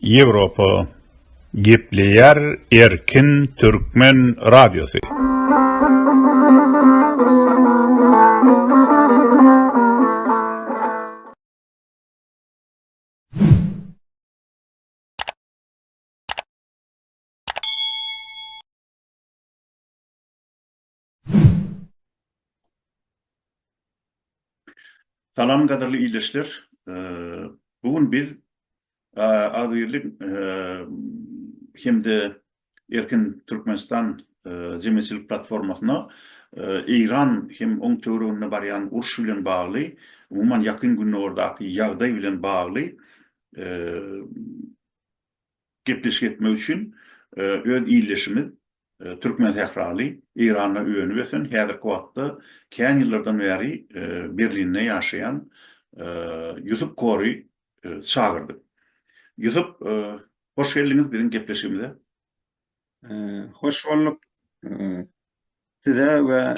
Ýewropa gepleýär erkin türkmen radiosy. Salam gadyrly ildeşler. Bu gün biz agzybirlik hem-de Erkin Türkmenistan jemgyýetçilik platformasyna Eýran hem oň töwereginde barýan uruş bilen bagly, umuman Ýakyn Gündogardaky ýagdaý bilen bagly gepleşik etmek üçin öz ildeşimiz Türkmen sähraly, Eýranda önüp-ösen, häzirki wagtda kän ýyllardan bäri Berlinde ýaşaýan Ýusup Kori çagyrdy. Ýusup, hoş geldiňiz biziň gepleşigimize. Hoş bolduk size we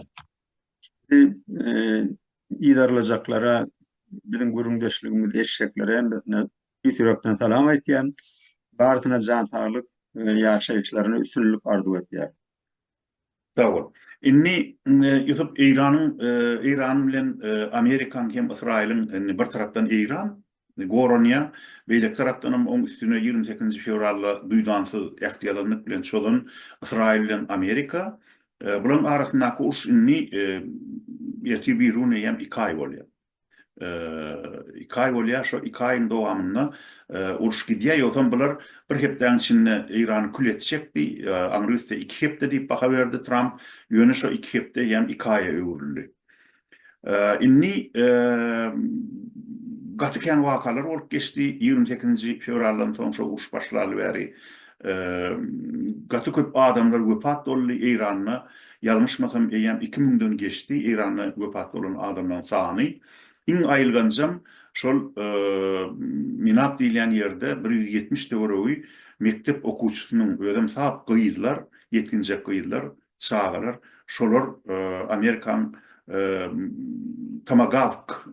yzarlajaklara, biziň gürrüňdeşligimizi eşitjeklere hemmesine Tüýs ýürekden salam aýtýan. Barysyna jan saglyk, ýaşaýyşlaryna üstünlik arzuw etýän. Sag bol. Indi Ýusup Eýranyň Eýran bilen Amerikaň hem Ysraýylyň indi bir tarapdan Eýran goranýa beýleki tarapdan hem oň üstüne ýigrimi sekizinji fewralda duýdansyz ähtiýalanlyk bilen çozan Ysraýyl bilen Amerika bularyň arasyndaky uruş indi ertir birigüne ýem iki aý bolýa. iki aý bolýar, şo iki aýyň dowamynda uruş gidýär, ýogsam bular bir hepdäniň içinde Eýrany kül etjekdi, aňry üste iki hepde diýip baha berdi Tramp, ýöne şo iki hepde hem iki aýa öwrüldi. Indi gaty kän wakalar bolup geçdi, ýigrimi sekizinji fewraldan soň şo uruş başlaly bäri gaty köp adamlar wepat boldy Eýranda, ýa Ýalňyşmasam eýýäm iki müňden geçdi Eýranda wepat bolan adamlaň sany. Iň aýylganjam şol Minap diýilýän ýerde bir ýüz ýetmiş töweregi mekdep okuwçysynyň özem sap gyzlar, ýetginjek gyzlar, çagalar şolar Amerikaň Tomagawk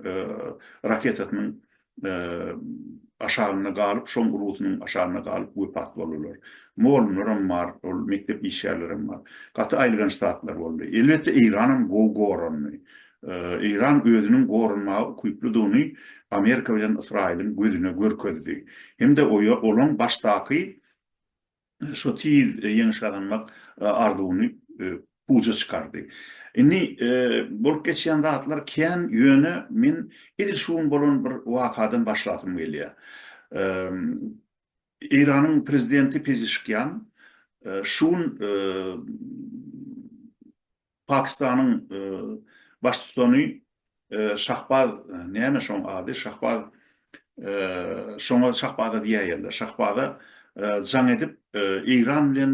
raketasynyň aşagynda galyp, şoň urgusynyň aşagynda galyp wepat boldular. Mugallymlaram bar, ol mekdep işgärlerem bar. Gaty aýylganç zatlar boldy. Elbetde Eýranam gowy gorandy. Eýran özüniň goranmaga ukyplydygyny Amerika bilen Ysraýylyň gözüne görkezdi. Hem-de olaň başdaky şo tiz ýeňiş gazanmak arzuwyny puja çykardy. Indi bolup geçýän zatlar kän, ýöne men edil şu gün bolan bir wakadan başlasym gelýär. Eýranyň prezidenti Pezişkian şu gün Pakistanyň baştutany Şahbaz, näme şoň ady, Şahbaz, şoňa Şahbaza diýäýerler, Şahbaza jaň edip, Eýran bilen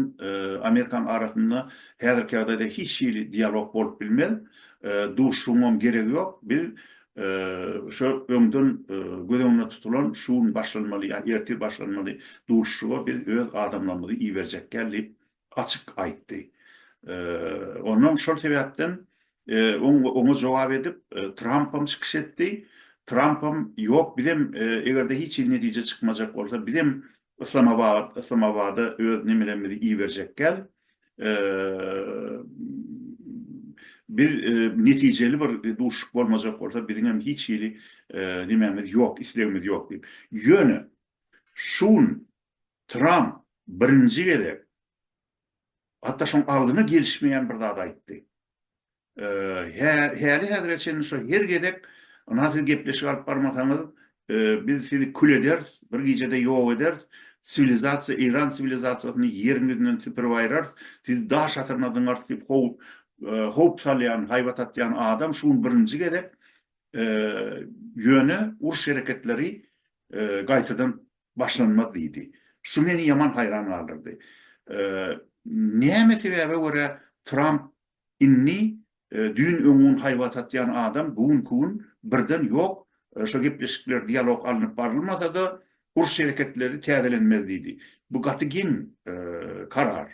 Amerikanyň arasynda häzirki ýagdaýda hiç hili dialog bolup bilmez, duşuşygyňam geregi ýok, biz şu öňden göz öňünde tutulan şu gün başlanmaly ýa ertir başlanmaly duşuşyga biz öz adamlarymyzy iberjekgäl diýip, açyk aýtdy. Onnoň şol sebäpden oňa jogap edip Trampam çykyş etdi. Trampam ýok bizem eger-de hiç hili netije çykmajak bolsa bizem Yslamabad Yslamabada öz nemelerimizi iberjekgäl biz netijeli bir duşuşyk bolmajak bolsa biziňem hiç hili nemämiz ýok islegimiz ýok diýip. Ýöne şu gün Tramp birinji gezek, hatda şoň aldyna gelişmeýän bir zat aýtdy. Häli-häzire çenli şo her gezek ynha siz gepleşik alyp barmasaňyz, biz sizi kül ederis, bir gijede ýok ederis, siwilizasiýa, Eýran siwilizasiýasyny ýeriň ýüzünden süpürip aýyrarys, sizi daş atyryna zyňarys diýip howp salýan, haýbat atýan adam şu gün birinji gezek ýöne uruş hereketleri gaýtadan başlanmaz diýdi. Şu meni ýaman haýran galdyrdy. Näme sebäbe görä Tramp indi düýn öň gün haýbat atýan adam bu günki gün birden ýok, şo gepleşikler, dialog alnyp barylmasa-da, uruş hereketleri täzelenmez diýdi. Bu gaty geň karar.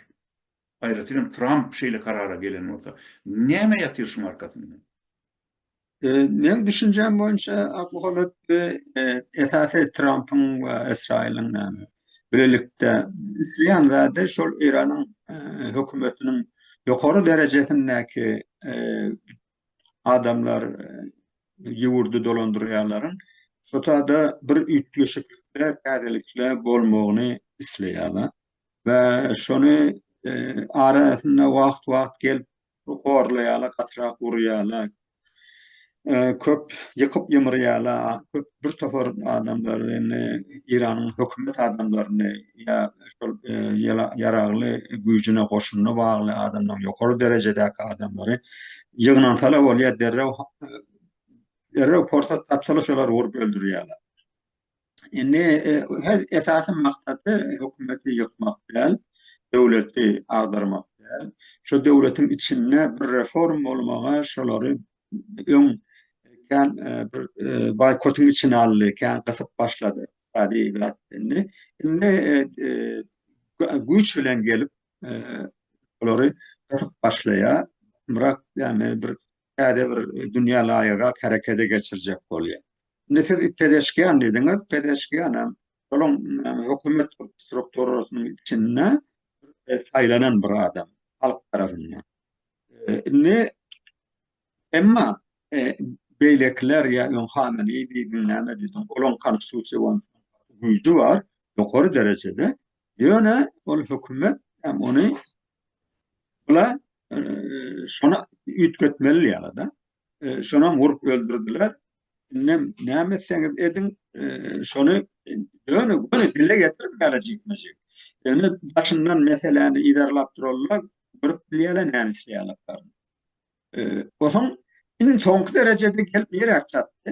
Aýratynam Tramp şeýle karara gelen bolsa. Näme ýatyr şuň arkasynda? Men düşünjäm boýunça Akmuhammet bu esasy Trampyň we Ysraýylyň bilelikde isleýän zady şol Eýranyň hökümetiniň ýokary derejesindäki adamlar ýurdy dolandyrýanlaryň şu sada bir üýtgeşiklikler, täzelikler bolmagyny isleýärler we şony arasynda wagt-wagt gelip Bu gorlaýala, gatyrak urýala, köp ýykyp ýymyrýala, köp bir topar adamlary indi Eýranyň hökümet adamlaryny ýa şol ýaragly güýjüne goşunyna bagly adamlaryň ýokary derejedäki adamlary ýygnansalar bolýa derrew derrew porsat tapsalar şolary urup öldürýala. Indi her esasy maksady hökümeti ýykmak däl, döwleti agdarmak däl. Şu döwletiň içinde bir reform bolmaga şolary öň kän e, bir e, boýkotyň içine aldy, kän gysyp başlady. Adi zat indi. Indi e, güýç bilen gelip olary gysyp başlaýar. Myrak ýa bir täze bir dünýä laýygrak herekete geçirjek bolýar. Indi siz Pezeşkian diýdiňiz, Pezeşkian hem şonuň hökümet strukturasynyň içinde saýlanan bir adam halk tarapyndan. Indi emma beýlekiler ýa öň Hameneý diýdiň, näme diýdiň, olaň konstitusiýa bolan güýji bar, ýokary derejede. Ýöne ol hökümet hem ony Bula e, şona üýtgetmeli ýaly da. E, şona vurup öldürdiler. Indi näme etseňiz ediň, e, şony döne göni dile getirip galajykmajyk. Indi başyndan meseläni iderlap durarlar, görüp bilýärler näme işleýärler. E, Osan iň soňky derejede gelip ýere çatdy.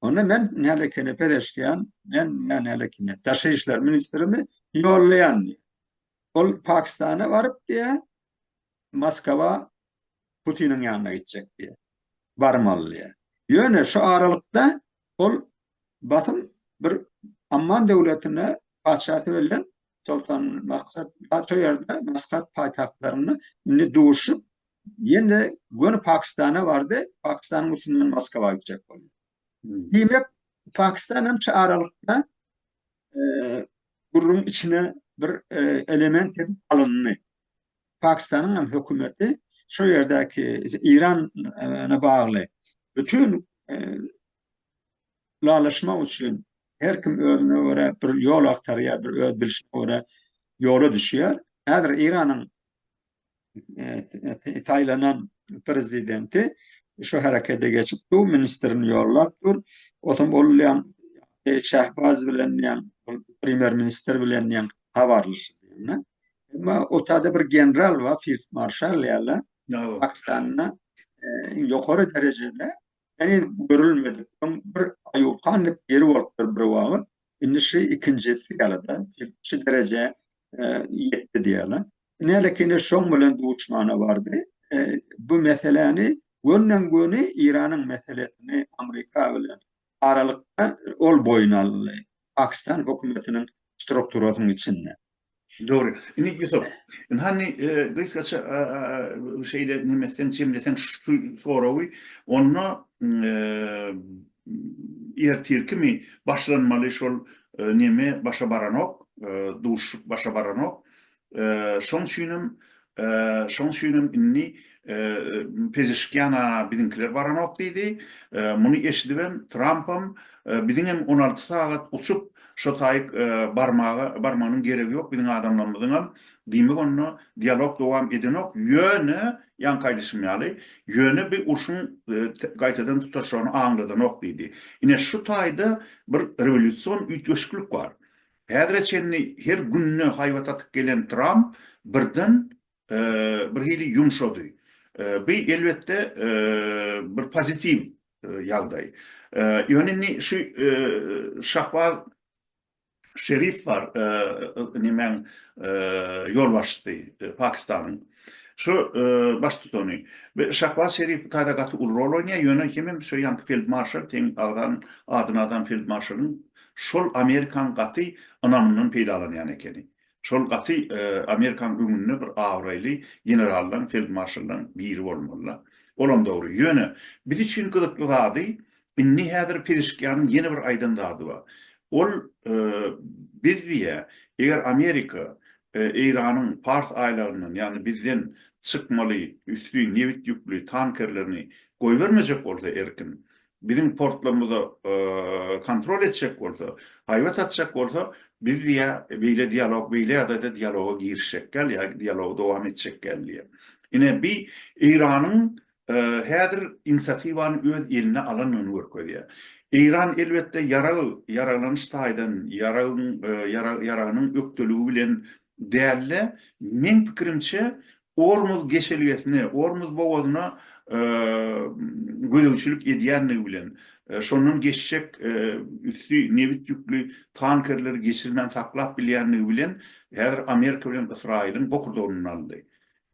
Onda men nälekeine pezeşkýän, men nälekeine daşary işler ministrimi ýollaýan diýýär. Ol Pakistana baryp diýýär, Moskwa Putiniň ýanyna gitjek diýýär. Barmaly diýýär. Ýöne şu aralykda ol basym bir Amman döwletine patyşasy bilen Soltan Maksat Paşa ýerde Maskat paýtagtlarynda indi duşup Ýene göni Pakistana bardy. Pakistanyň üstünden Moskwa gitjek boldy. Diýmek, Pakistan hem şu aralykda gürrüň içine bir element edip alyndy. Pakistanyň hem hökümeti şu ýerdäki Irana bagly bütün lalaşmak üçin her kim özüne göre bir ýol agtarýar, bir öz bilşine göre ýola düşýär. Häzir Iranyň e, taýlanan prezidenti şu herekete geçip bu ministrini ýollap dur. Otam olýan e, Şahbaz bilen ýan premýer ministr bilen ýan habarlaşýan. Emma otada bir general we field marşal ýaly Pakistanda e, iň ýokary derejede ýani görülmedik bir aýukanlyk ýeri bolupdyr bir wagt. Indi şu ikinjisi ýaly da şu dereje e, ýetdi diýýärler. Binali Kine şoň bilen duşmana bardy. E, bu meseläni gönden göni Iranyň meselesini Amerika bilen aralykda ol boýun aldy. Pakistan hökümetiniň strukturasynyň içinde. Dogry. Indi Ýusup, indi hany e, gysgaça e, e, şeýle nemeseň jemleseň şu soragy, onda e, ertirkimi başlanmaly şol neme başa baranok, duşuşyk başa baranok. Şoň üçinem, şoň üçinem indi Pezeşkiana biziňkiler baranok diýdi. Muny eşidibem Trampam, Biziňem on alty sagat uçup, şo taýyk barmaga, barmanyň geregi ýok biziň adamlarymyzyňam. Diýmek onda dialog dowam edenok, ýöne, ýaňky aýdyşym ýaly, ýöne bi urşuň gaýtadan tutaşjagyny aňladanok diýdi. Ine şu taýda bir rewolýusion üýtgeşiklik bar. Häzire çenli her günde haýbat atyp gelen Tramp birden bir hili ýumşady. Bu elbetde bir pozitiw ýagdaý. Ýöne indi şu Şahbaz Şerif bar, nemäň ýolbaşçysy Pakistanyň. Şu baştutany. Bu Şahbaz Şerif taýda gaty uly rol oýnaýar, ýöne hemem şu ýanky feldmarşal teň agzan adyny adan feldmarşalyň Şol Amerikan gaty ynamyndan peýdalanýan ekeni. Şol gaty Amerikan öňünde bir abraýly generaldan, feldmarşaldan biri bolmaly-la. Olam dogry. Ýöne, biz üçin gyzykly zady, indi häzir Pezeşkianyň ýene bir aýdan zady bar. Ol, Biz diýýär, eger Amerika Eýranyň Pars aýlagyndan, ýagny bizden çykmaly üsti nebit ýükli tankerlerini goýbermejek bolsa erkin, biziň portlarymyzy kontrol etjek bolsa, haýbat atjak bolsa, biz diýä beýle dialog, beýle ýagdaýda dialoga girişjek däl, ýa dialogy dowam etjek däl diýä. Ine bi Eýranyň häzir inisiatiwany öz eline alandygyny görkezýä. Eýran elbetde ýarag, ýaraglanyş taýdan, ýaragyň, ýaragynyň ökdeligi bilen däl-de, meň pikirimçe, Ormuz geçelgesine, Ormuz bogazyna gözegçilik edýändigi bilen, şondan geçjek üsti nebit ýükli tankerleri geçirmän saklap bilýändigi bilen, häzir Amerika bilen Ysraýylyň bokurdagyny aldy.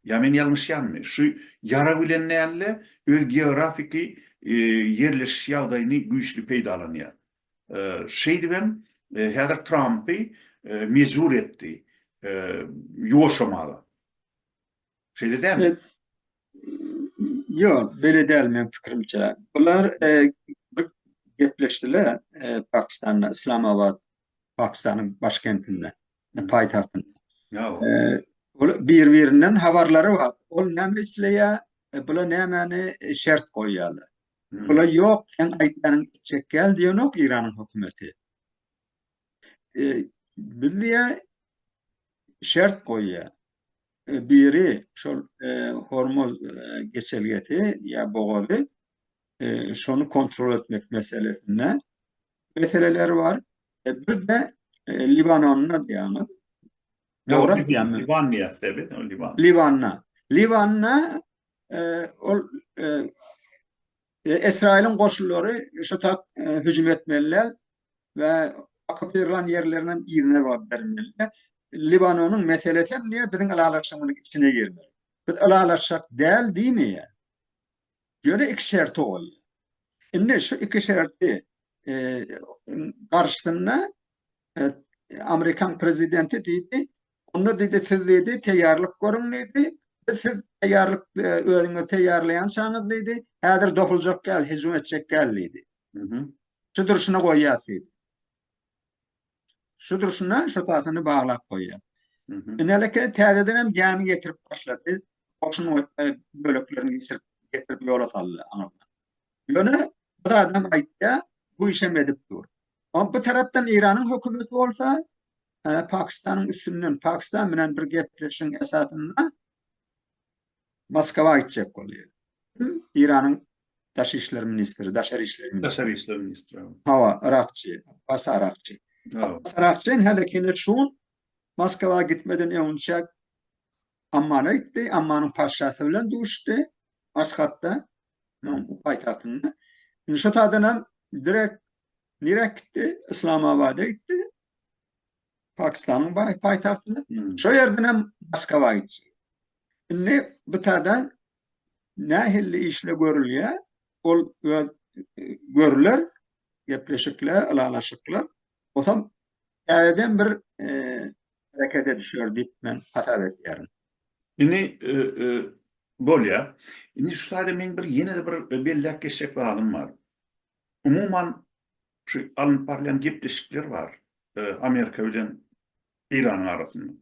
Ýa men ýalňyşýanmy? Şu ýara bilen däl-de, öz geografiki ýerleşiş ýagdaýyny güýçli peýdalanýar. Şeýdibem, häzir Trampy mejbur etdi ýuwaşamaga. Şeýle dälmi? Ýok, beýle däl meniň pikirimçe. Bular gepleşdiler Pakistanda, Islamabad, Pakistanyň başkentinde, paýtagtynda. Ýa-ow. Bir-birinden habarlary bar. Ol näme isleýär, bular nämäni şert goýýarlar. Pula ýok, sen aýtýanyň it çekýäl diýenok Eýranyň hökümeti. E, biz diýä şert goýýa. E, biri şol e, Hormuz e, geçelgesi ýa bogazy e, şony kontrol etmek meselesinde meseleler bar. E, bir de e, Libanonda diýýäňiz. Ýa, Dogry Liban- diýýärmi? Liban diýýäs-de biz, o Liban. Libanna. Libanna ol Esraýylyň goşunlary şu tak hüjüm etmeliler we okupiran ýerlerinden yzyna bolup bermeliler. Libanonyň meselesi hem diýe biziň ylalaşygymyzyň içine girmeli. Biz ylalaşak däl diýmeýär. Ýöne iki şerti ol. Indi şu iki şerti e, garşysynda e, Amerikan prezidenti diýdi, Onda diýdi, siz diýdi, teýýarlyk görüň diýdi. Biz siz teýýarlyk özüňizi teýýarlaýançaňyz diýdi, häzir dopuljak ýaly hüjüm etjek ýaly diýdi. Şu durşuna goýýas diýdi. Şu durşuna şu tasyny baglap goýýas. Ineleke täzeden hem gämi getirip başlady. Goşun böleklerini geçirip getirip ýola saldy. Ýöne bir zadam aýtýar, bu işem edip dur. Ol bir tarapdan Eýranyň hökümeti bolsa, ýa Pakistanyň üstünden, Pakistan bilen bir gepleşigiň esasynda Moskwa gitjek bolýar. Kim? Eýranyň daşary işler ministri, daşary işler ministri. Daşary işler ministri. Hawa, Yrakçy, Abbas Arakçy. Abbas Arakçy häli heniz şu gün Moskwa gitmeden öňçäk Ammana gitdi, Ammanyň patyşasy bilen duşuşdy Aşgatda. Manyň paýtagtynda. Indi şo taýdan hem direk nirek gitdi? Islamabada gitdi. Pakistanyň baý paýtagtyna. Şo ýerden hem Moskwa gitdi. Indi bu taýda nähilli işle görülýär? Ol öz görüler, gepleşikler, ylalaşyklar. Otam täzeden bir herekete düşer diýip men hasap edýärin. Indi bolýar. Indi şu taýda meň bir ýene-de bir belläp geçjek zadym bar. Umuman şu alnyp barylýan gepleşikler bar Amerika bilen Eýranyň arasynda.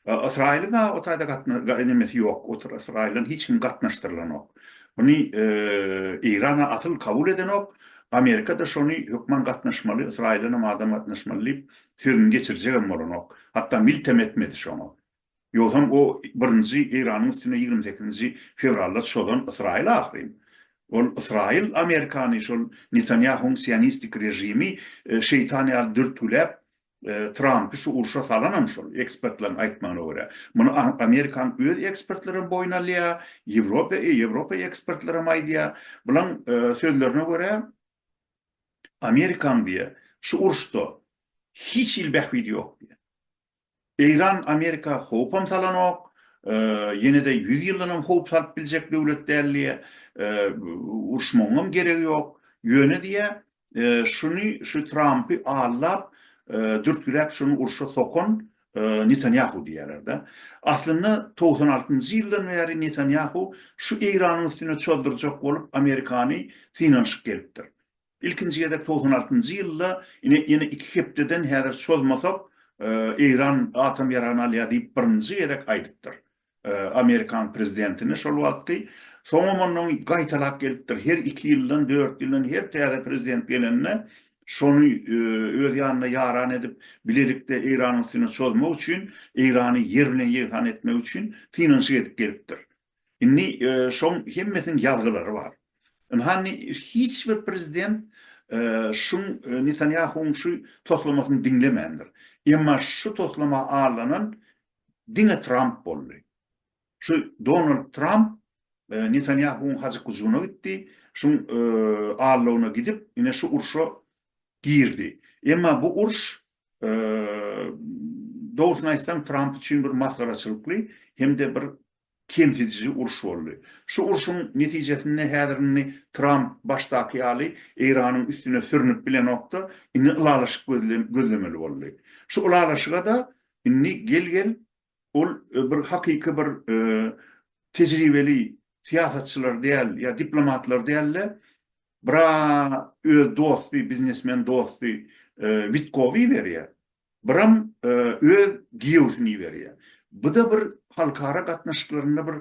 Ysraýylyň o taýda gatnaşygy nämesi ýok, o taýda Ysraýyldan hiç kim gatnaşdyrylanok. Muny Eýran asyl kabul edenok, Amerika-da şony hökman gatnaşmaly, Ysraýyldan hem adam gatnaşmaly diýip sözüni geçirjegem bolanok. Hatda miltem etmedi şoňa. Ýogsam o birinji Eýranyň üstüne ýigrimi sekizinji fewralda çozan Ysraýyl ahyryn. Ol Ysraýyl Amerikany şol Netanýahuň sionistik režimi şeýtan ýaly dürtgüläp Trampy şu urşa salanam şol ekspertleriň aýtmagyna görä. Muny Amerikanyň öz ekspertlerem boýun alýar, Ýewropa Ýewropa ekspertlerem aýdýar. Bulaň sözlerine görä Amerikaň diýýär, şu uruşda hiç hili bähbidi ýok diýýär. Eýran Amerika howpam salanok, ýene-de ýüz ýyldanam howp salyp biljek döwlet däl diýýär. Uruşmagyňam geregi ýok. Ýöne diýýär, şuny, şu Trampy aldap, dürtgüläp şuny urşa sokan Netanýahu diýýärler-de. Aslynda togsan altynjy ýyldan bäri Netanýahu şu Eýranyň üstüne çozdurjak bolup Amerikany synanyşyp gelipdir. Ilkinji gezek togsan altynjy ýylda ine ýene iki hepdeden häzir çozmasak Eýran atom ýaragyny alýar diýip birinji gezek aýdypdyr. Amerikan prezidentini şol wagtky. Soňam ondan gaýtalap gelipdir. Her iki ýyldan, dört ýyldan her täze prezident gelende şony öz ýanyna ýaran edip, bilelikde Eýranyň üstüne çozmak üçin, Eýrany ýer bilen ýegsan etmek üçin synanyşyk edip gelipdir. Indi şoň hemmesiniň ýazgylary bar. Ynhany hiç bir prezident şuň Netanýahuwyň şu toslamasyny diňlemändir. Emma şu toslama allanan diňe Tramp boldy. Şu Donald Tramp Netanýahuwyň hajyk-hujuguna gitdi, şuň allawyna gidip, ine şu urşa girdi. Emma bu urş, dogrusyny aýtsaň, Tramp üçin bir masgaraçylykly hem-de bir kemsidiji uruş boldy. Şu urşuň netijesinde häzir indi Tramp başdaky ýaly Eýranyň üstüne sürnüp bilenokdy, indi ylalaşyk gözlemeli boldy. Şu ylalaşyga-da indi gel-gel ol bir hakyky bir tejribeli syýasatçylar däl ýa diplomatlar däl-de, bir-a öz dosty, biznesmen dosty Witkow iberýär. Biram öz giýewsini iberýär. Bu-da bir halkara gatnaşyklarynda bir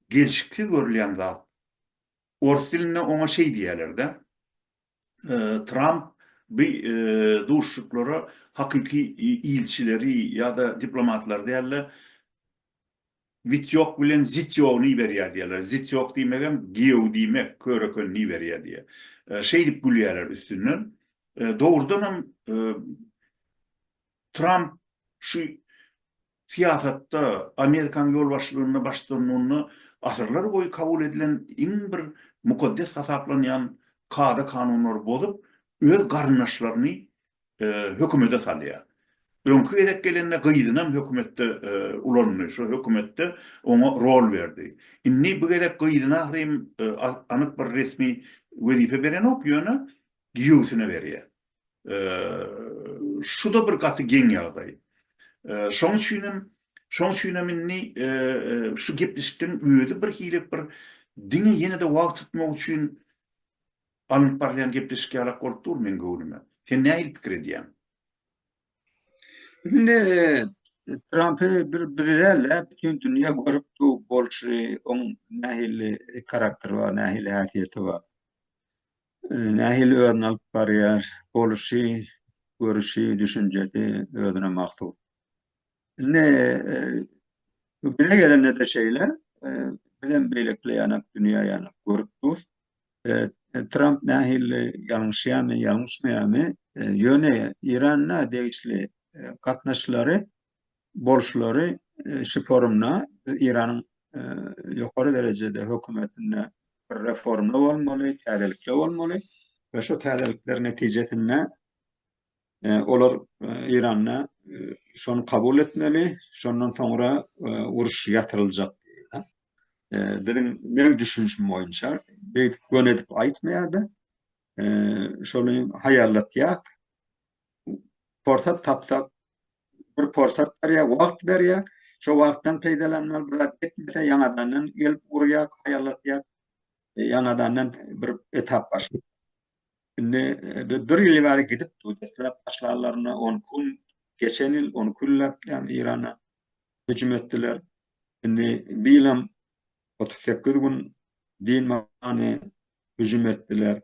gelşiksiz görülýän zat. Ors dilinde oňa şeý diýýärler-de. Tramp bu duşuşyklara hakyky ilçileri ýa-da diplomatlary däl-de, Wit ýok bilen zit ýogny iberýär diýýärler. Zit ýok diýmegem giýew diýmek, körekenini iberýär diýýär. Şeýdip gülýärler üstünden. Dogrudan hem Tramp şu syýasatda, Amerikanyň ýolbaşçylygynda baş tutanynda asyrlar boýy kabul edilen iň bir mukaddes hasaplanýan kada-kanunlary bozup, öz garyndaşlaryny hökümede salýar. Öňki gezek gelende gyzynam hökümetde ulandy, şo hökümetde oňa rol berdi. Indi bu gezek gyzyny ahyrym anyk bir resmi wezipe berenok, ýöne giýewsine berýär. Şu-da bir gaty geň ýagdaý. Şoň üçinem, şoň üçinem indi şu gepleşikden özi birhili bir diňe ýene-de wagt tutmak üçin Alnyp barylýan gepleşik ýalak bolup dur meň göwnüme. Sen nähili pikir edýäň? Biz indi Trampy bir biz däl-de, bütin dünýä görüp dur bolşy, oň nähili karakteri bar, nähili häsiýeti bar, nähili özüni alyp barýar, boluşy, görüşi, düşünjesi özüne mahsus. Indi bu bize gelende de şeýle, biz hem beýlekile ýanak dünýä ýanak görüp dur. Tramp nähili ýalňyşýarmy, ýalňyşmaýarmy, ýöne Iranda degişli gatnaşlary bolşlary şu forumda Iranyň ýokary derejede hökümetinde reforma bolmaly, täzelikler bolmaly we şu täzelikler netijesinde Olar Eýranda şony kabul etmeli, şondan soňra uruş ýatyryljak diýdi. Biziň meň düşünişim boýunça beýdip göni edip aýtmaýarda. Şony haýallatýak. Porsat tapsak bir porsat berýär, wagt berýär. Şo wagtdan peýdalanmaly, bir zat etmese ýaňadandan gelip urýar, haýallatýar. Ýaňadandan bir etap başlaýar. Indi bir ýyl bäri gidip durýarlar başlarlaryna on gün geçen ýyl on günläp ýan Irana hüjüm etdiler. Indi bir ýylam 38 gün din many hüjüm etdiler.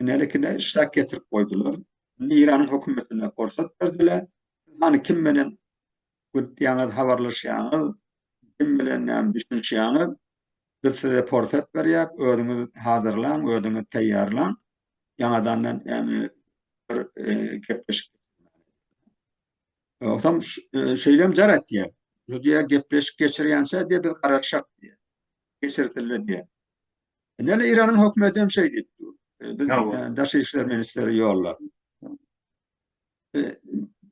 Nelikine işläp getirip goýdular. Indi Iranyň hökümetine porsat berdiler. Hany kim menen gürtýäňiz habarlaşýaňyz kim bilen näme düşünişýäňiz biz size porsat berýäk özüňiz hazyrlaň özüňiz taýýarlaň ýaňadan näme bir gepleşik Otam şeýlem jar etýär. Şu diýä gepleşik geçirýänçä diýä biz garaşak diýä. Geçirdiler diýä. Näle Iranyň hökümeti hem şeý diýip dur. Biz daşary işler ministri ýollap.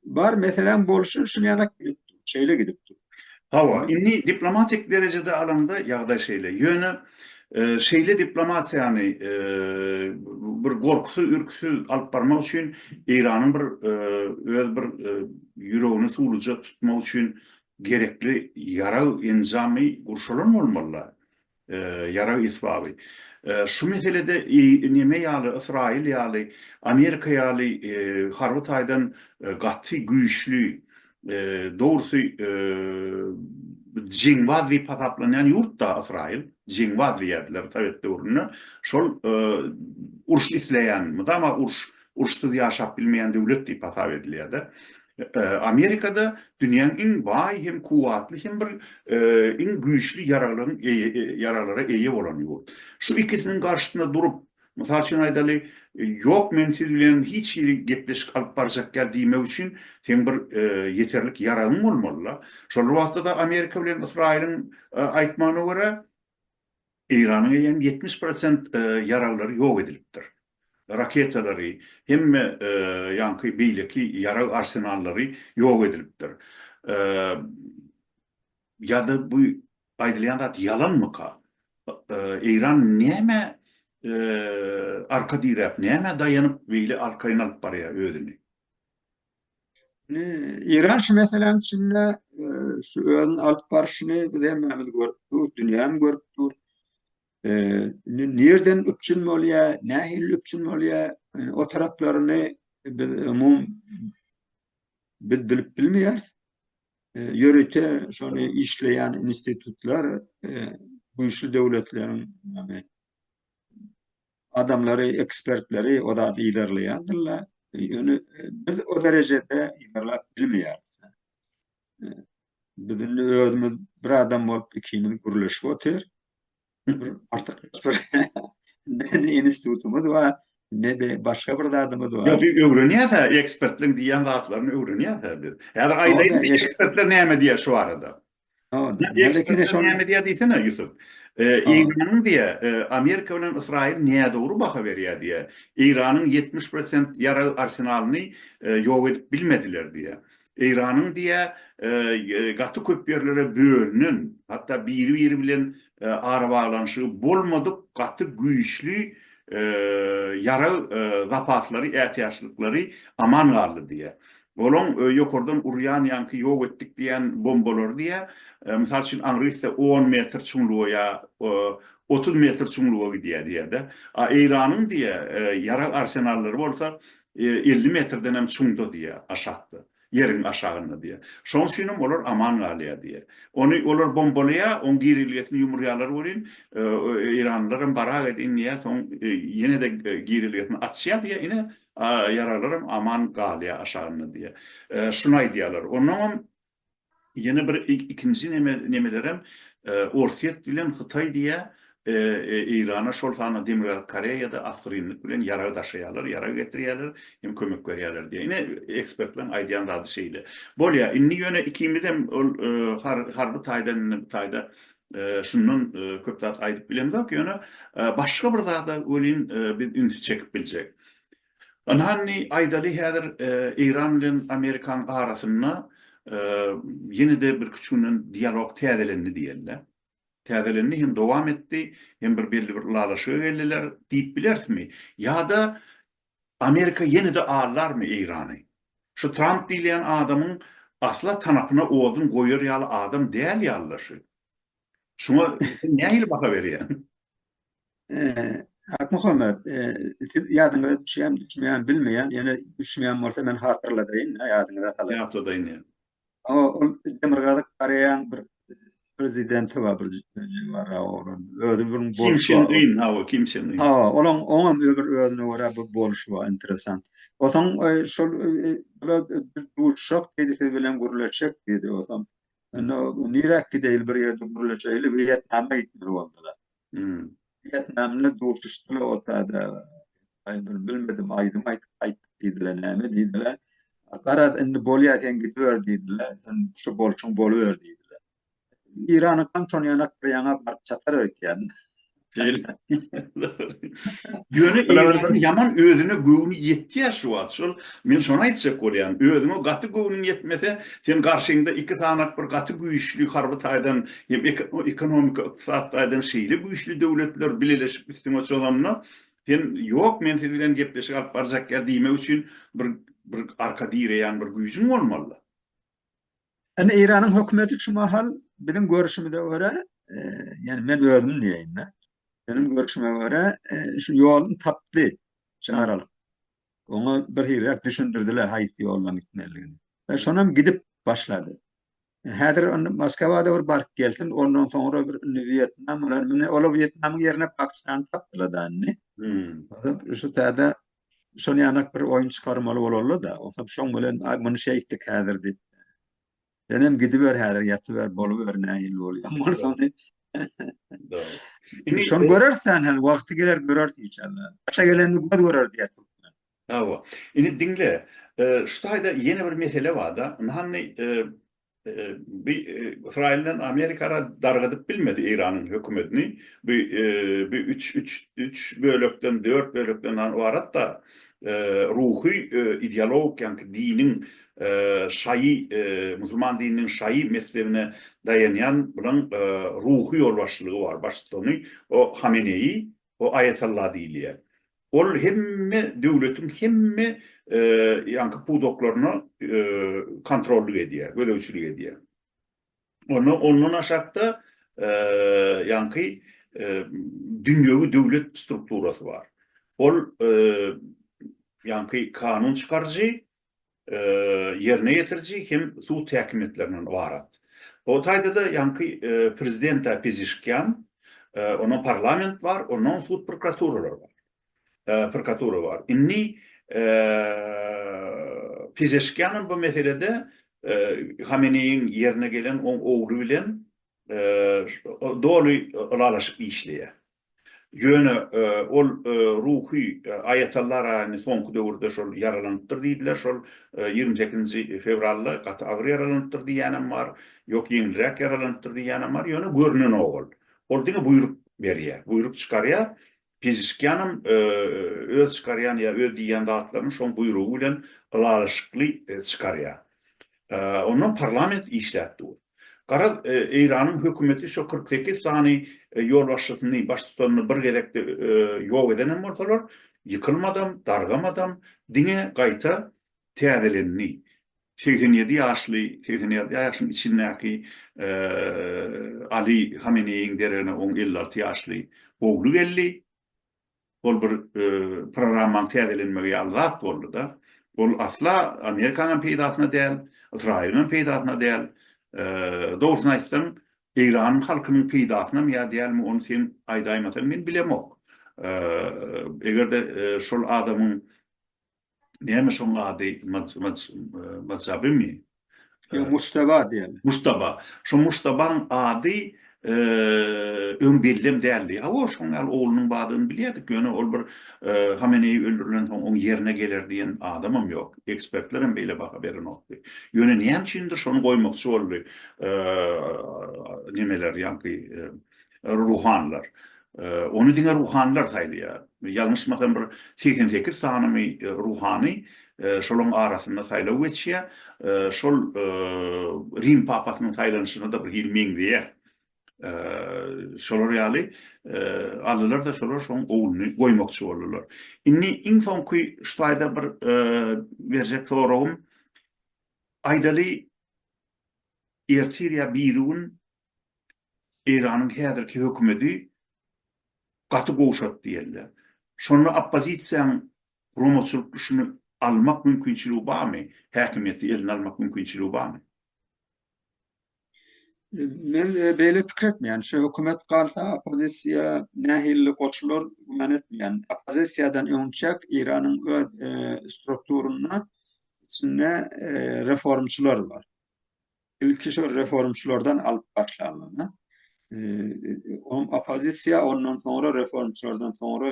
Bar meseläň bolşy şul ýanak gidipdir, şeýle gidipdir. Hawa, indi diplomatik derejede alanda ýagdaý şeýle. Ýöne şeýle diplomatiýany bir gorkusyz, ürküsiz alyp barmak üçin Eýranyň bir öz bir ýüregini suwluja tutmak üçin gerekli ýarag enjamy gurşalan bolmaly-la. Ýarag esbaby. Şu meselede neme ýaly, Ysraýyl ýaly, Amerika ýaly harby taýdan gaty güýçli, dogrusy jeňbaz diýip hasaplanýan ýurt-da Ysraýyl. Jeňbaz diýerdiler sowet döwründe. Şol uruş isleýän, mydama uruş Uruşsyz ýaşap bilmeýän döwlet diýip hasap edilýärdi. Amerikada dünýäň iň baý hem kuwwatly hem bir iň güýçli ýaraglaryň ýaraglara eýe bolan ýurt. Şu ikisiniň garşysyna durup, mysal üçin aýdaly, ýok men siz bilen hiç hili gepleşik alyp barjak däl diýmek üçin seň bir ýeterlik ýaragyň bolmaly-la. Şol bir wagtda-da Amerika bilen Ysraýylyň aýtmagyna görä, Eýranyň eýýäm ýetmiş prosent ýaraglary ýok edilipdir. Raketalary, hemme ýaňky beýleki ýarag arsenallary ýok edilipdir. Ýa-da bu aýdylýan zat ýalanmyka? Eýran nämä arka diräp, nämä daýanyp beýle arkaýyn alyp barýar özüni? Iran şu meseläň içinde e, şu özüni alyp barşyny biz hemmämiz görüp dur, dünýäm görüp dur. E, nerden üpjün bolýar, nähili üpjün bolýar, yani o taraplaryny biz umum biz bilip bilmeýäris. E, Ýörite şony işleýän institutlar e, güýçli döwletleriň, ýagny adamlary, ekspertleri o zady yzarlaýandyrlar. Ýöne biz o derejede yzarlap bilmeýäris. Biz indi özümiz bir adam bolup ikimiz gürleşip otyr. Bir artyk bir ne institutymyz bar, ne-de başga bir zadymyz bar. Ýok, biz öwrenýäs-ä, ekspertligiň diýýän zatlaryny öwrenýäs-ä biz. Häzir aýdaýyn, ekspertler näme diýýär şu barada? Näme diýýär diýsene Ýusup. Eýranyň diýýär, Amerika bilen Ysraýyl nädogry baha berýär diýýär. Eýranyň ýetmiş prosent ýarag arsenalyny ýok edip bilmediler diýýär. Eýranyň diýýär, gaty köp ýerlere bölünen, hatda biri-biri bilen arabaglanyşygy bolmadyk gaty güýçli ýarag zapaslary, ätiýaçlyklary aman galdy diýýär. Olaň ýokardan urýan ýaňky ýok etdik diýýän bombalary diýýä, mysal üçin aňryýse on metr çuňluga ýa otuz metr çuňluga gidýä diýýä-de. A Eýranyň diýýä ýarag arsenallary bolsa elli metrden hem çuňda diýýä, aşakda, ýeriň aşagynda diýýä. Şoň üçin hem olar aman galýa diýýä. Ony olar bombalaýa, oň girilgesini ýumurýalar welin, eýranlylar hem barak edin diýýä, soň ýene-de girilgesini açýa diýýä, ine A ýaraglaram aman galýar aşagynda diýýä. Şuny aýdýarlar. Onnoňam ýene bir ikinji neme nemelerem Orsýet bilen Hytaý diýýä Eýrana şol sanda Demirgazyk Koreýada assyrynlyk bilen ýarag daşaýarlar, ýarag getirýärler hem kömek berýärler diýýä. Ine ekspertleriň aýdýan zady şeýle. Bolýa indi ýöne ikimizem ol harby taýdan indi bu taýda Şundan köp zat aýdyp bilemzok, ýöne başga bir zada welin biz ünsi çekip biljek. Ynhany aýdaly häzir Eýran bilen Amerikanyň arasynda ýene-de birki üç günden dialog täzelendi diýeli. Täzelendi hem dowam etdi, hem bir belli bir ylalaşyga geldiler diýip bilerismi? Ýa-da Amerika ýene-de aldarmy Eýrany? Şu Tramp diýilýän adamyň asla tanapyna odun goýar ýaly adam däl ýaly-da şu. Şuňa sen nähili baha berýäň? Akmuhammet, siz ýadyňyza düşýärmi, düşmeýärmi bilmeýän, ýöne düşünýän bolsa men hatyrladaýyn, ýadyňyza salaýyn. Ýatladaýyn. Awa ol Demirgazyk Koreýaň bir prezidenti bar bir jemara oglan. Özi bir bolşy. Kim Çin Ün, awa Kim Çin Ün. Awa, olaň oňam bir özüne görä bir bolşy bar interesan. Osaň şol bula duşak diýdi siz bilen gürleşjek diýdi osam. Onda niräk gideýli bir ýerde gürleşeýli Wýetnama gitmeli boldular. Wýetnamly duşuşdylar otada. Aýdymy bilmedim, aýdym aýdyp gaýtdyk diýdiler, näme diýdiler. Garaz, indi bolýar, sen gidiber diýdiler, sen şu bolşuň boluber diýdiler. Iranyň kançony ýanak bir ýaňa baryp çatar öýtýän. Ýöne Iranyň ýaman özüne göwni ýetýär şu wagt. Şol men şony aýtjak bolýan. Özüňe gaty göwnüň ýetmese, sen garşyňda iki sanak bir gaty güýçli harby taýdan Hem ekonomika, ykdysat taýdan şeýle güýçli döwletler bileleşip üstüňe çozanda, sen ýok men siz bilen gepleşik alyp barjak ýa diýmek üçin bir bir arka direýän bir güýjüň bolmalyda. Indi Eýranyň hökümeti şu mahal biziň görüşimize görä, ýani men özüm diýeýin-de, meniň görüşime görä şu ýoluny tapdy şu aralyk. Oňa birhiliräk düşündirdiler haýsy ýoldan gitmelidigini. Şonam gidip başlady. Häzir indi Moskwa-da bir baryp gelsin, ondan soňra bir indi Wýetnam bolar. Indi olar Wýetnamyň ýerine Pakistany tapdylar-da indi. Şu täze şol ýanak bir oýun çykarmaly bolarlar-da. Onsoň şoň bilen, aý, muny şeýtdik häzir diýip. Senem gidiber häzir, ýatyber, boluber, nähili bolýan bolsa ony. Indi şony göreris-dä, hany wagty geler göreris inşallah. Başa gelende göz görer diýýär türkmen. Hawa. Indi diňle. Şu taýda ýene bir mesele bar-da. Hanny bi Ysraýyl bilen Amerika ara dargadyp bilmedi Eýranyň hökümetini. Bi bi üç üç üç bölekden, dört bölekden ybarat-da. Ruhy ideologik ýaňky diniň şaýy musulman dininiň şaýy mezhebine daýanýan bilen ruhy ýolbaşçylygy bar baştutany o Hameneýi O aýatalla diýilýär. Ol hemme döwletiň hemme ýaňky pudaklaryna kontrollyk edýär, gözegçilik edýär. Onda ondan aşakda ýaňky dünýewi döwlet strukturasy bar. Ol ýaňky kanun çykaryjy, ýerine ýetiriji hem sud häkimiýetlerinden ybarat. O taýda-da ýaňky prezident-ä Pezişkian, ondan parlament bar, ondan sud prokuraturalar bar. Prokuratura bar. Indi Pezeşkianam bu meselede Hameneýiň ýerine gelen oň ogly bilen doly ylalaşyp işleýär. Ýöne ol ruhy aýatallar aýny soňky döwürde şol ýaralanypdyr diýdiler. Şol ýigrimi sekizinji fewralda gaty agyr ýaralanypdyr diýýänem bar. Ýok ýeňilräk ýaralanypdyr diýýänem bar. Ýöne görnenok ol. Ol diňe buýruk berýär. Buýruk çykarýar. Pizişkiýanam öz çykarýan ýa öz diýýän zatlaryny şoň buýrugy bilen ylalaşykly çykarýar. Ondan parlament işläp dur. Garaz, Eýranyň hökümeti şo kyrk sekiz sany ýolbaşçysyny, baştutanyny bir gezekde ýok edenem bolsalar, ýykylmadam, dargamadam, diňe gaýta täzelendi. Segsen ýedi ýaşly, segsen ýedi ýaşyň içindäki Ali Hameneýiň deregine oň elli alty ýaşly ogly geldi. Ol bir programmaň täzelenmegi ýaly zat boldy-da. Ol asla Amerikanyň peýdasyna däl, Ysraýylyň peýdasyna däl. Dogrusyny aýtsaň, Eýranyň halkynyň peýdasynam ýa dälmi, ony sen aýdaýmasaň men bilemok. Eger-de şol adamyň Näme şoň ady Mac Mac Macabymy? Ýok, Mujtaba diýerler. Mujtaba. Şo Mujtabaň ady öň bellem däldi. Hawa, şoň ýaly oglunyň bardygyny bilýärdik, ýöne ol bir Hameneýi öldürilensoň oň ýerine geler diýen adamam ýok. Ekspertler hem beýle baha berenokdy. Ýöne näme üçindir şony goýmakçy boldy nemeler ýaňky Ruhanylar. Ony diňe ruhanylar saýlaýar. Ýalňyşmasam bir segsen sekiz sanymy ruhany şolaň arasynda saýlaw geçýär. Şol Rim papasynyň saýlanyşyna-da bir hili meňzeýär. Şolar ýaly aldylar-da şolar şoň ogluny goýmakçy boldular. Indi iň soňky şu taýda bir berjek soragym, aýdaly ertir ýa birigün Eýranyň häzirki hökümeti gaty gowşatdy diýenler. Şonda oppozisiýaň guramaçylyk işini almak mümkinçiligi barmy? Häkimiýeti eline almak mümkinçiligi barmy? Men beýle pikir etmeýän. Şu hökümet galsa, oppozisiýa nähili goşular, güman etmeýän. Oppozisiýadan öňçäk Eýranyň öz strukturynda içinde reformçylar bar. Ilki şo reformçylardan alyp başlanlygyna, onuň oppozisiýa ondan soňra reformçylardan soňra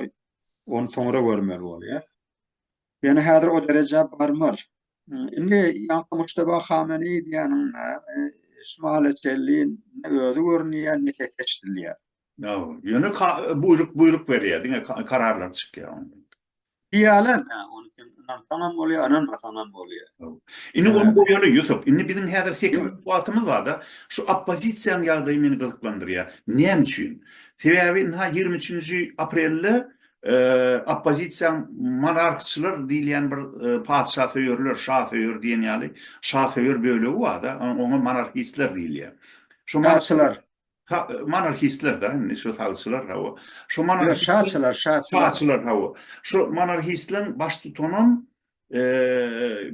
ony soňra görmeli bolýar. Ýöne häzir o derejä barmar. Indi ýaňky Mujtaba Hameni diýýäninde Şymale Çelli özi görünýär, ne kekeç dilýär. Ýöne buýruk buýruk berýär, diňe kararlar çykýar. Diýýärler, hä, ony sen ynansaň hem bolýar, ynanmasaň hem bolýar. Indi ony goýaly, Ýusup. Indi biziň häzir sekiz minut wagtymyz bar-da. Şu oppozisiýanyň ýagdaýy meni gyzyklandyrýar. Näme üçin? Sebäbi ynha ýigrimi üçünji aprelde oppozisiýaň monarhçylar diýilýän bir patyşasöýerler, şasöýer diýen ýaly şasöýer bölegi bar-da, oňa monarhistler diýilýär. Şa-şylar. Ha, monarhistler da, indi şu salçylar hawa. Şu Ýa, monarhist şaçylar, şaçylar. Şaçylar hawa. Şu monarhistleriň baştutanam eee,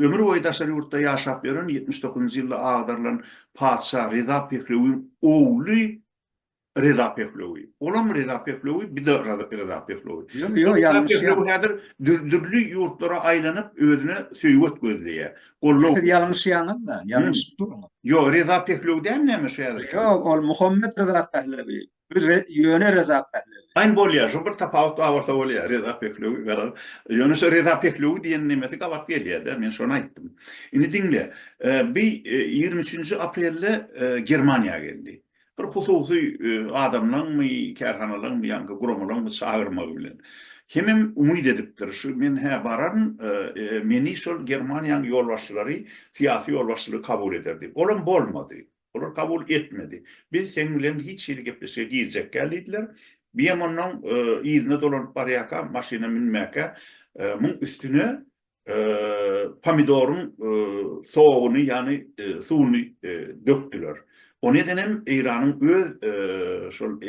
ömür boýy daşary ýurtda ýaşap ýören 79-njy ýylda agdarylan patyşa Reza Pehlewiň ogly Reza Pehlewi. Olam Reza Pehlewi, bir-de Raza- Reza Pehlewi. Ýo, ýo, Reza ýalňyşýaň. Pehlewi häzir dür- dürli ýurtlara aýlanyp, özüne söýget gözleýär. Gollow. Siz ýalňyşýaňyz-da, ýalňyşyp durňyz. Ýok, Reza Pehlewi däl näme şu häzirki? Ýok, ol Muhammet Reza Pehlewi. Bu ýöne Reza Pehlewi. Aýn bolýar, şu bir tapawut bar bolsa bolýar, Reza Pehlewi garaz. Ýöne şu Reza Pehlewi diýen nemesi gabat gelýär-dä, men şony aýtdym. Indi diňle, bi ýigrimi üçünji aprelde Germaniýa geldi. bir hususy adamlaňmy, kärhanalaňmy, ýa-da guramalaňmy çagyrmagy bilen. Hemem umyt edipdir, şu men hä bararyn, meni şol Germaniýanyň ýolbaşçylary, syýasy ýolbaşçylygy kabul eder diýip. Olam bolmady. Olar kabul etmedi. Biz seň bilen hiç hili gepleşige girjekgäl diýdiler. Biemonnun yzyna dolanyp barýarka, maşyna münmäkä, muň üstüne pomidoryň soguny, ýagny suwuny dökdüler. Ony eden hem Eýranyň öz şol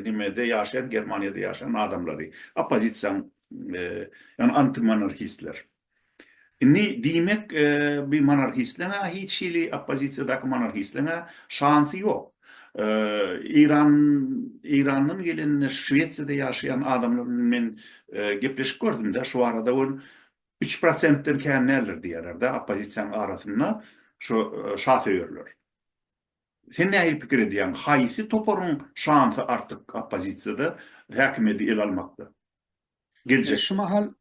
nimede ýaşaýan, Germaniýada ýaşaýan adamlary, oppozisiýanyň, ýagny antimonarhistler. Indi diýmek, bu monarhistleň-ä hiç hili oppozisiýadaky monarhistleň-ä şansy ýok. Eýran, Eýrandan gelen Şwesiýada ýaşaýan adamlar bilen men gepleşik gördüm-de, şu barada ol üç prosentden kän däldir diýýärler-de oppozisiýanyň arasynda şu şasöýerler. Sen nähili pikir edýäň, haýsy toparyň şansy artyk oppozisiýada häkimiýeti ele almakda? Geljek. Şu mahal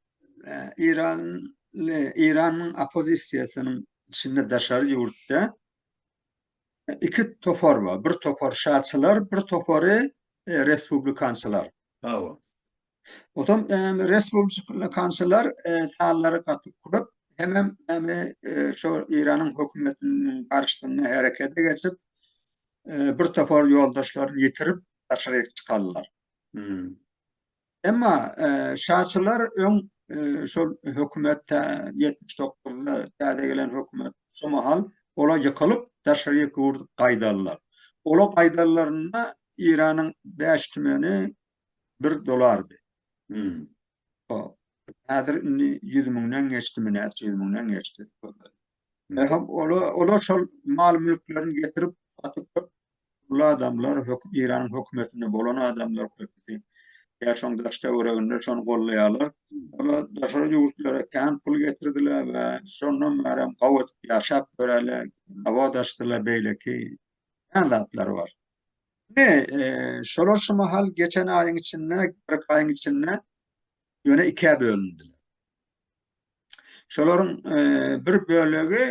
eýranly, Eýranyň oppozisiýasynyň içinde daşary ýurtda Iki topar bar. Bir topar şaçylar, bir topary e, respublikançylar. Hawa. Otam e, respublikançylar e, tallary gaty köp. Hemem näme e, şu Iranyň hökümetiniň garşysynda herekete geçip, e, bir topar ýoldaşlaryny ýitirip daşaryk çykarlar. Hmm. Emma şaçylar öň şol hökümet ýetmiş dokuzynda täze gelen hökümet şu mahal ola ýykylyp daşary ýurt gaýdallar. Ola gaýdallarynda Iranyň bäş tümeni bir dolardy. Häzir indi ýüz müňden geçdimi näçe ýüz müňden geçdi. Nähak ola, olar şol mal-mülklerini getirip, satyp köp pully adamlar, höküm Eýranyň hökümetinde bolan adamlar köpüsi. Ýa şoň daş-töwereginde şony goldaýarlar. Olar daşary ýurtlara kän pul getirdiler we şondan bäri hem gawy edip ýaşap ýörärler, zawod açdylar, beýleki kän zatlary bar. Ine, e, şolar şu mahal geçen aýyň içinde, kyrk aýyň içinde ýöne ikä bölündiler. Şolaryň bir bölegi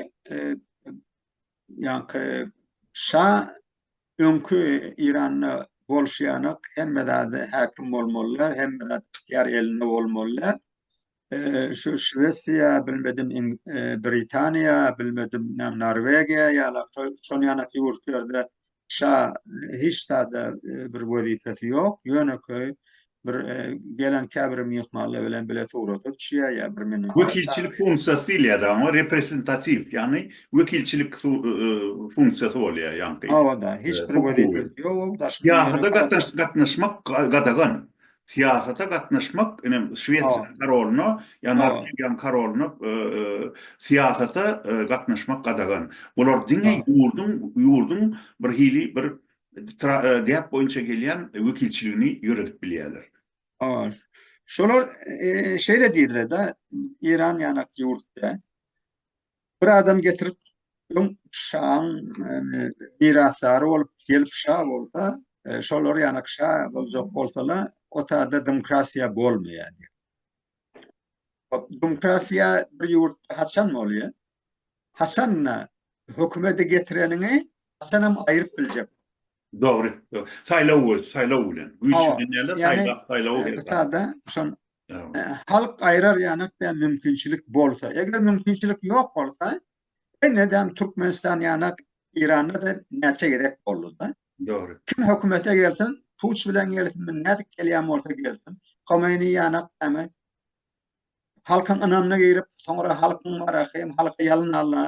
ýaňky şa öňki Iranda bolşýanak hemme zady häkim bolmalylar, hemme zat ýar elinde bolmalylar. Şu Şwesiýa, bilmedim Britaniýa, bilmedim Norwegiýa ýa-da şol ýanak ýurtlarda Şa hiç zada bir wezipesi ýok, ýönekeý bir gelen käbir myhmanlar bilen bile surata düşýär ýa bir meni. Wekilçilik funksiýasy diýilýär-de oňa, reprezentatiw, ýagny wekilçilik funksiýasy bolýar ýaňky. Hawa-da, hiç bir wezipesi ýok, daşky. Syýahata gatnaşmak gadagan. Syýasata gatnaşmak, ine, Şwesiýanyň korolyna, ýa Norwegiýanyň korolyna syýasata gatnaşmak gadagan. Bular diňe ýurduň, ýurduň bir hili bir däp boýunça gelýän wekilçiligini ýöredip bilýärler. Şolar şeýle diýdiler-de, Eýran ýanak ýurt-da. Bir adam getirip öň şaň mirasdary bolup gelip şa bolsa, e, şolar ýana şa boljak bolsalar, o taýda demokratiýa bolmaýar. Demokratiýa bir ýurt haçan bolýar? Haçanda hökümeti getireniňi haçanam aýryp biljek. Dogry. Saýlaw we saýlaw bilen. Güýç bilen ýa-da saýlaw, saýlaw. Bu taýda şon Halk aýrar ýanak däl mümkinçilik bolsa. Eger mümkinçilik ýok bolsa, ine däm Türkmenistan ýanak Iranda da näçe gezek boldy da. Dogry. Kim hökümete gelsin, puç bilen gelsin, nädip gelýän bolsa gelsin. Homeini ýanak dämi halkyň ynamyna girip, soňra halkyň wara hem halky ýalyn alna.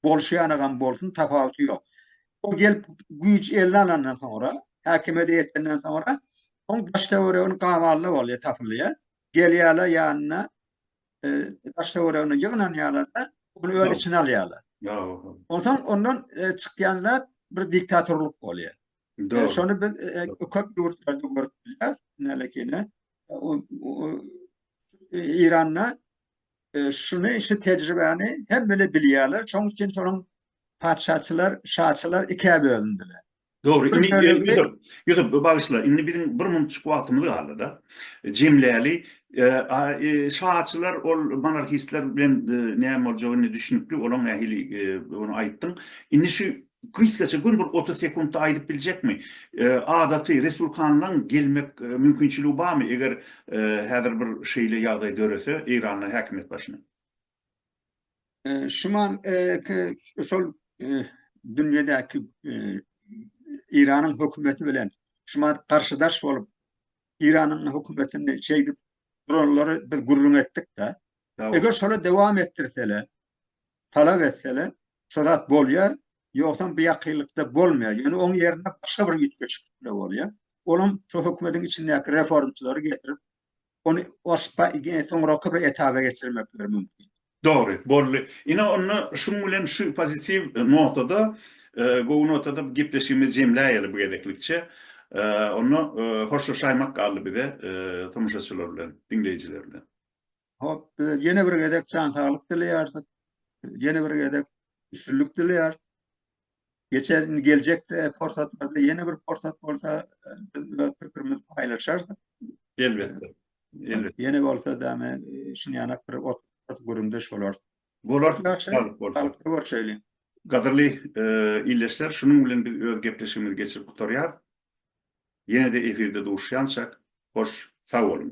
Bolşýanagam bolsun, tapawuty ýok. Ol gelip güýç eline alandan soňra, häkimiýete ýetenden soňra, oň daş-töweregini gaballa bolýar, tapylýar. Gelýärler ýanyna, daş-töweregine ýygnanýarlar-da, ony öz içine alýarlar. Onsoň ondan çykýan zat bir diktatorlyk bolýar. Şony biz köp ýurtlarda görüp bilýäris. Nälekiňe, Eýranda Şuny, şu tejribäni hemmeler bilýärler, şoň üçin şonuň patyşaçylar, şaçylar ikä bölündiler. Dogry, indi Ýusup, Ýusup, bagyşla, indi biziň bir munçuk wagtymyz galdy-da, jemläli. Şaçylar, ol monarhistler bilen näme boljagy indi düşünikli, olaň nähili, ony aýtdyň. Indi şu Gysgaça göni bir otuz sekuntda aýdyp biljekmi? Adaty respublikanlaň gelmek mümkinçiligi barmy eger häzir bir şeýle ýagdaý dörese Eýranda häkimiýet başyna? Şuman şol dünýedäki Eýranyň hökümeti bilen şuman garşydaş bolup Eýranyň hökümetini şeýdip duranlary biz gürrüň etdik-de. Eger şoly dowam etdirseler, talap etseler, şo zat bolýar, ýogsam bu ýakynlykda bolmaýar. Ýöne oň ýerine başga bir üýtgeşik pikir bolýar. Olam şo hökümetiň içindäki reformçylary getirip, ony soňraky bir etaba geçirmekleri mümkin. Dogry, boldy. Ine onda şuň bilen şu pozitiw notada, gowy notada gepleşigimizi jemläýeli bu gezeklikçe. Onda hoşlaşaýmak galdy bize tomaşaçylar bilen, diňleýjiler bilen. Hop, bize ýene bir gezek jan saglyk dileýäris. Ýene bir gezek üstünlik dileýäris. Geçen indi geljekde pursatlarda ýene bir pursat bolsa e, biz öz pikirimizi paýlaşarys. Elbetde. Elbetde. Ýene bolsa da men e, şun ýanak bir ot, ot güründeş bolarys. Bolar. Ýagşy, Saglyk bolsun. saglyk görşeýli. Gadyrly e, illeşler, şunuň bilen biz öz gepleşigimizi geçirip gutarýarys. Ýene-de efirde duşýançak, hoş, sag boluň.